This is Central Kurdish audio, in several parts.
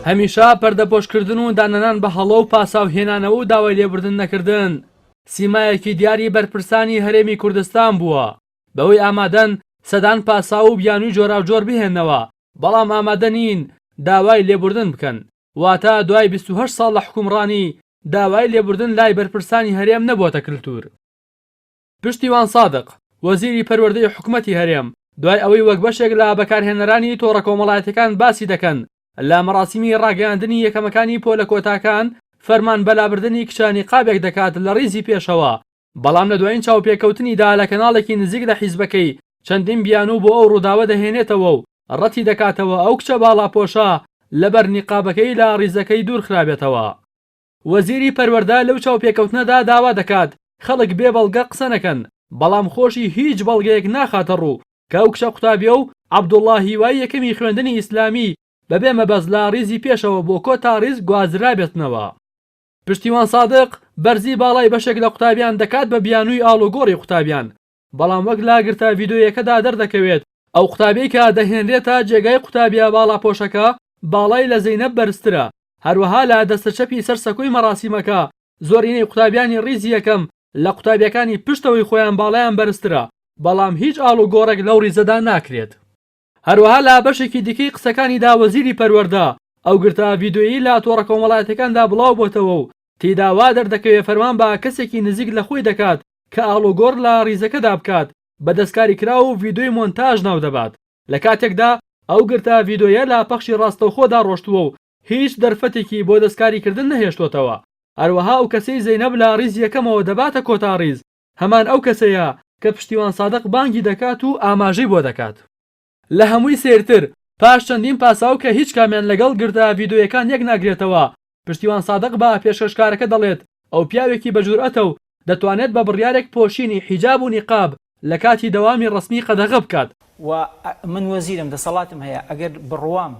هەمیشە پەردەپۆشکردن و داننەنان بە هەڵە و پاساو هێنانەوە و داوای لێبوردن نەکردن سیمایەکی دیاری بەرپرسانی هەرێمی کوردستان بووە بەوەی ئامادەن سەدان پاساو و بیانوی جۆراوجۆر بهێنەوە بەڵام ئامادە نین داوای لێبوردن بکەن واتە دوای بیست و هەشت ساڵ لە حکومڕانی داوای لێبوردن لای بەرپرسانی هەرێم نەبۆتە کلتور. پشتیوان سادق، وەزیری پەروەردەی حکومەتی هەرێم، دوای ئەوەی وەک بەشێک لە بەکارهێنەرانی تۆڕە کۆمەڵایەتیەکان باسی دەکەن لە مەراسیمی ڕاگەیاندنی یەکەمەکانی پۆلە کۆتاکان فەرمان بە لابردنی کچانی قابێک دەکات لە ڕیزی پێشەوە، بەڵام لە دوایین چاوپێکەوتنیدا لە کەناڵێکی نزیک لە حیزبەکەی چەندین بیانوو بۆ ئەو ڕووداوە دەهێنێتەوە و ڕەتی دەکاتەوە ئەو کچە باڵاپۆشە لەبەر نیقابەکەی لە ڕیزەکەی دوورخرابێتەوە. وەزیری پەروەردە لەو چاوپێکەوتنەدا داوا دەکات خەڵک بێ بەڵگە قسە نەکەن، بەڵام خۆشی هیچ بەڵگەیەک ناخاتەڕوو کە ئەو کچە قوتابیە و عەبدوڵا هیوای یەکەمی خوێندنی ئیسلامی بەبێ مەبەست لە ڕیزی پێشەوە بۆ کۆتا ڕیز گوازرابێتنەوە. پشتیوان سادق بەرزی باڵای بەشێک لە قوتابیان دەکات بە بیانووی ئاڵوگۆڕی قوتابیان، بەڵام وەک لاگرتە ڤیدۆییەکەدا دەردەکەوێت ئەو قوتابیەی کە دەهێنرێتە جێگای قوتابیە باڵاپۆشەکە باڵای لە زەینەب بەرزترە، هەروەها لە دەستە چەپی سەر سەکۆی مەراسیمەکە زۆرینەی قوتابیانی ڕیزی یەکەم لە قوتابیەکانی پشتەوەی خۆیان باڵایان بەرزترە، بەڵام هیچ ئاڵوگۆڕێک لەو ڕیزەدا ناکرێت. هەروەها لە بەشێکی دیکەی قسەکانیدا وەزیری پەروەردە، ئەو گرتە ڤیدیۆیەی لە تۆڕە کۆمەڵایەتیەکاندا بڵاوبۆتەوە و تێیدا وا دەردەکەوێ فەرمان بە کەسێکی نزیک لە خۆی دەکات کە ئاڵوگۆڕ لە ڕیزەکەدا بکات بە دەستکاریکراو و ڤیدیۆی مۆنتاژ ناودەبات لە کاتێکدا ئەو گرتە ڤیدیۆیە لە پەخشی ڕاستەوخۆدا ڕۆشتووە و هیچ دەرفەتێکی بۆ دەستکاریکردن نەهێشتۆتەوە. هەروەها ئەو کەسەی زەینەب لە ڕیزی یەکەمەوە دەباتە کۆتا ڕیز، هەمان ئەو کەسەیە کە پشتیوان سادق بانگی دەکات و ئاماژەی بۆ دەکات. لە هەمووی سەیرتر، پاش چەندین پاساو کە هیچ کامیان لەگەڵ گردە ڤیدۆیەکان یەک ناگرێتەوە، پشتیوان سادق بە پێشکەشکارەکە دەڵێت ئەو پیاوێکی بە جورئەتە و دەتوانێت بە بڕیارێک پۆشینی حیجاب و نیقاب لە کاتی دەوامی ڕەسمی قەدەغە بکات. و من وەزیرم، دەسەڵاتم هەیە، ئەگەر بڕوام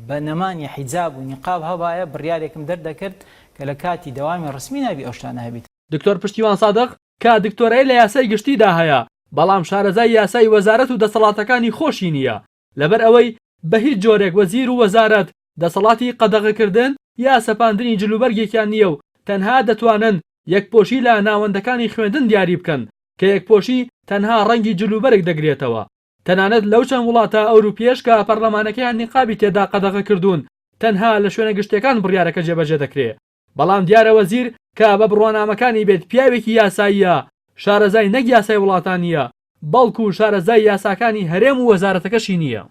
بە نەمانی حیجاب و نیقاب هەبایە، بڕیارێکم دەردەکرد کە لە کاتی دەوامی ڕەسمی نابی ئەو شتانە هەبیت. دکتۆر پشتیوان سادق، کە دکتۆرای لە یاسای گشتیدا هەیە، بەڵام شارەزای یاسای وەزارەت و دەسەڵاتەکانی خۆشی نییە، لەبەر ئەوەی بە هیچ جۆرێک وەزیر و وەزارەت دەسەڵاتی قەدەغەکردن یا سەپاندنی جلوبەرگێکیان نییە و تەنها دەتوانن یەکپۆشی لە ناوەندەکانی خوێندن دیاری بکەن کە یەکپۆشی تەنها ڕەنگی جلوبەرگ دەگرێتەوە. تەنانەت لەو چەند وڵاتە ئەوروپییەش کە پەرلەمانەکەیان نیقابی تێدا قەدەغەکردوون، تەنها لە شوێنە گشتییەکان بڕیارەکە جێبەجێ دەکرێ. بەڵام دیارە وەزیر کە بە بڕوانامەکانی بێت پیاوێکی یاساییە، شارەزای نەک یاسای وڵاتانییە، بەڵکو شارەزای یاساکانی هەرێم و وەزارەتەکەشی نییە.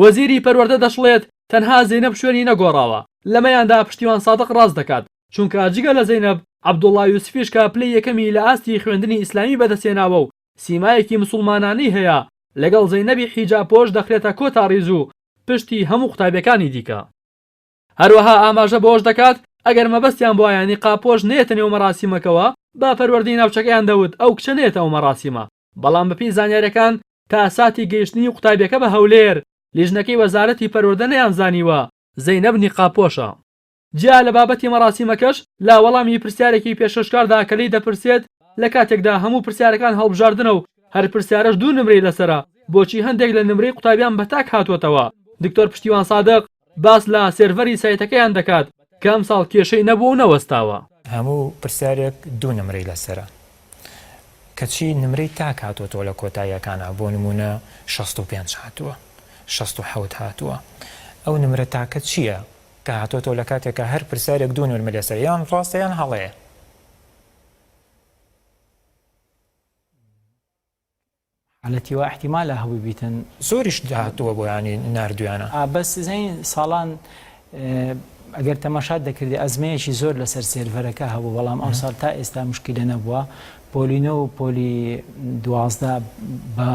وەزیری پەروەردە دەشڵێت، تەنها زەینەب شوێنی نەگۆڕاوە، لەمەیاندا پشتیوان سادق ڕاست دەکات، چونکە جگە لە زەینەب، عەبدوڵا یوسفیش کە پلەی یەکەمی لە ئاستی خوێندنی ئیسلامی بەدەستهێناوە و سیمایەکی مسوڵمانانەی هەیە، لەگەڵ زەینەبی حیجابپۆش دەخرێتە کۆتا ڕیز و پشتی هەموو قوتابیەکانی دیکە. هەروەها ئاماژە بەوەش دەکات، ئەگەر مەبەستیان بوایە نیقابپۆش نەیەتە نێو مەراسیمەکەوە، با پەروەردەی ناوچەکەیان دەوت ئەو کچە نەیەتە ئەو مەراسیمە، بەڵام بەپێی زانیارییەکان تا ساتی گەیشتنی قوتابیەکە بە هەولێر، لیژنەکەی وەزارەتی پەروەردە نەیانزانیوە زەینەب نیقابپۆشە. جیا لە بابەتی مەراسیمەکەش، لە وەڵامی پرسیارێکی پێشکەشکاردا کە لێی دەپرسێت، لە کاتێکدا هەموو پرسیارەکان هەڵبژاردنە و هەر پرسیارەش دوو نمرەی لەسەرە، بۆچی هەندێک لە نمرەی قوتابیان بە تاک هاتووەتەوە؟ دکتۆر پشتیوان سادق، باس لە سێرڤەری سایتەکەیان دەکات کە ئەمساڵ کێشەی نەبووە و نەوەستاوە. هەموو پرسیارێک دوو نمرەی لەسەرە کەچی نمرەی تاک هاتۆتەوە لە کۆتاییەکانا بۆ نموونە شەست و پێنج هاتووە شەست و حەوت هاتووە ئەو نمرە تاکە چیە کە هاتۆتەوە لە کاتێکا هەر پرسیارێک دوو نرمە لەسەر یان ڕاستە یان هەڵەیە. حالەتی وا احتیمالە هەبوی بیتن. زۆریش هاتووە بۆیانی ناردویانە. ئا بەس زین ساڵان ئەگەر تەماشات دەکردی ئەزمەیەکی زۆر لەسەر سێرڤەرەکە هەبوو بەڵام ئەمساڵ تا ئێستا مشکیلە نەبووە پۆلی نۆ و پۆلی دوازدە بە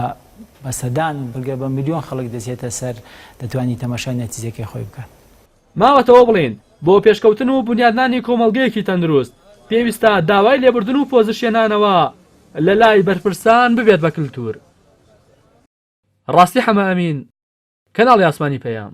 بە سەدان و بگە بە ملیۆن خەڵک دەچێتە سەر دەتوانی تەماشای نەتیجەکەی خۆی بکات. ماوەتەوە بڵێین بۆ پێشکەوتن و بونیادنانی کۆمەڵگەیەکی تەندروست پێویستە داوای لێبوردن و پۆزشێنانەوە لە لای بەرپرسان ببێت بە کلتور. ڕاستی حەمە ئەمین، کەناڵی ئاسمانی پەیام.